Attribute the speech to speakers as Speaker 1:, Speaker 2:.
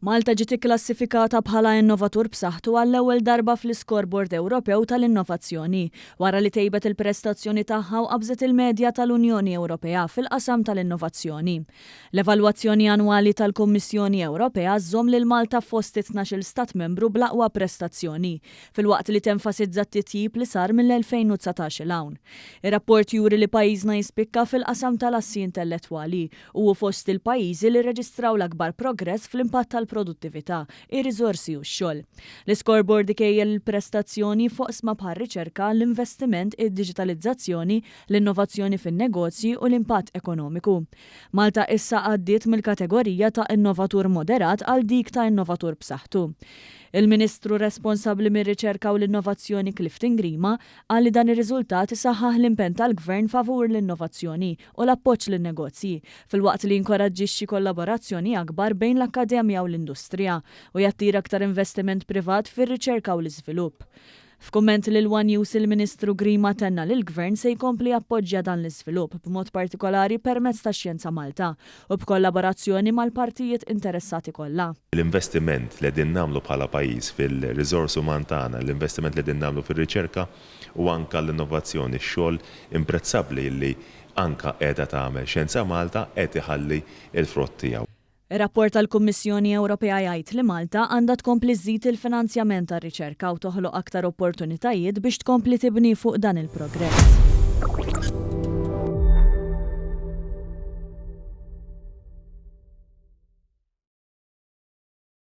Speaker 1: Malta ġiet ikklassifikata bħala innovatur b'saħħtu għall-ewwel darba fl-Iskorbord Ewropew tal-Innovazzjoni, wara li tejbet il-prestazzjoni tagħha u qabżet il-medja tal-Unjoni Ewropea fil-qasam tal-innovazzjoni. L-evalwazzjoni annwali tal-Kummissjoni Ewropea żżomm lil Malta fost it-tnax-il Stat Membru bl-aqwa prestazzjoni, filwaqt li tenfasizza t-titjib li sar mill-2019 'il hawn. Ir-rapport juri li pajjiżna jispikka fil-qasam tal-assi intellettwali u hu fost il-pajjiżi li rreġistraw l-akbar progress fl-impatt tal-produttività, ir-riżorsi u x-xogħol. L-Iscoreboard ikejjel il-prestazzjoni f'oqsma bħar-riċerka, l-investiment, id-diġitalizzazzjoni, l-innovazzjoni fin-negozji u l-impatt ekonomiku. Malta issa għaddiet mill-kategorija ta' innovatur moderat għal dik ta' innovatur b'saħħtu. Il-Ministru responsabbli mir-Riċerka u l-Innovazzjoni Clifton Grima qal li dan ir-riżultat isaħħaħ l-impenn tal-Gvern favur l-innovazzjoni u l-appoġġ lin-negozji, filwaqt li jinkoraġġixxi kollaborazzjoni akbar bejn l-akkademja u l-industrija u jattira aktar investiment privat fir-riċerka u l-iżvilupp. F'kumment lil one News il-Ministru Grima tenna li l-Gvern se jkompli jappoġġja dan l-iżvilupp b'mod partikolari permezz ta' Xjenza Malta u b'kollaborazzjoni mal-partijiet interessati kollha. L-investiment li
Speaker 2: qegħdin nagħmlu bħala pajjiż fil-riżors uman tagħna, l-investiment li qegħdin nagħmlu fir-riċerka, u anke għall-innovazzjoni, x-xogħol imprezzabbli li anke qiegħda tagħmel Xjenza Malta qed iħalli l-frott tiegħu. Ir-rapport
Speaker 1: tal-Kummissjoni Ewropea jgħid li Malta għandha tkompli żżid il-finanzjament għar-riċerka u toħloq aktar opportunitajiet biex tkompli tibni fuq dan il-progress.